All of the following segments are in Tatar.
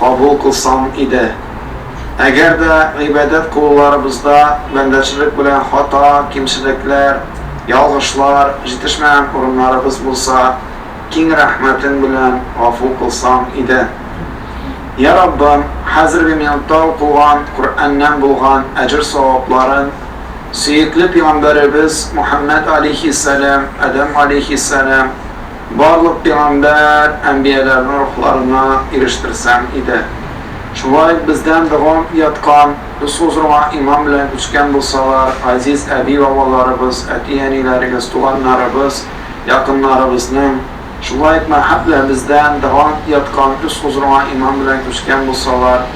кабул кылсам иде. Әгәр дә гыйбадәт кылуларыбызда бәндәчелек белән хата, кимчелекләр, ялгышлар, җитешмәгән урыннарыбыз булса, киң рәхмәтең белән гафу кылсаң иде. Йә Раббым, хәзерге минутта укылган Коръәннән булган әҗер-савапларын сөекле пигамбәребез Мөхәммәд галәйһиссәлам, Адәм галәйһиссәлам, Барлык пигамбәр, әнбияләрнең рухларына ирештерсәң иде. Шулай бездән дәвам яткан, без хозурыңа иман белән күчкән булсалар, газиз әби-бабаларыбыз, әти-әниләрегез, туганнарыбыз, якыннарыбызның, шулай ук мәһаб белән бездән дәвам яткан, үз хозурыңа иман белән күчкән булсалар,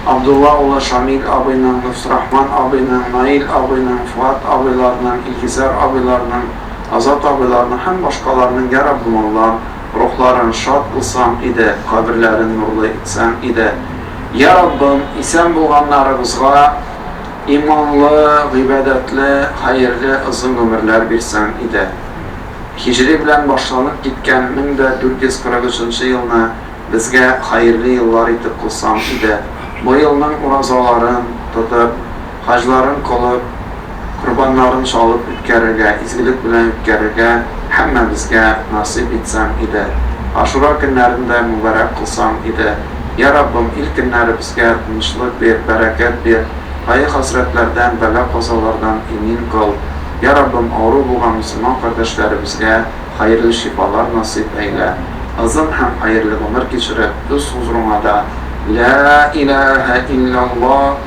Абдулла улы Шамил абыйның, Лөфтүрахман абыйның, Наил абыйның, Фуат абыйларның, Илгизәр абыйларның, Азат абыйларның һәм башкаларның ярабмуллам, рухларын шат кылсаң иде, каберләрен нурлы итсәң иде. Йә Раббым, исән булганнарыбызга иманлы, гыйбадәтле, хәерле озын гомерләр бирсәң иде. Һиҗри белән башланып киткән 1443 елны безгә хәерле еллар итеп кылсаң иде. Бу елның уразаларын тотып. хаҗларын кылып, корбаннарын чалып үткәрергә, изгелек белән үткәрергә һәммәбезгә насыйп итсәң иде. Ашура көннәрен дә мөбарәк кылсаң иде. Йә Раббым, ил көннәребезгә тынычлык бир, бәрәкәт бир, кайгы-хәсрәтләрдән, бәла-казалардан имин кыл. Йә Раббым, авыру булган мөселман кардәшләребезгә хәерле шифалар насыйп әйлә. Озын һәм хәерле гомер кичереп, үз хозурыңа да, Ләә иләәһә илләллаһ!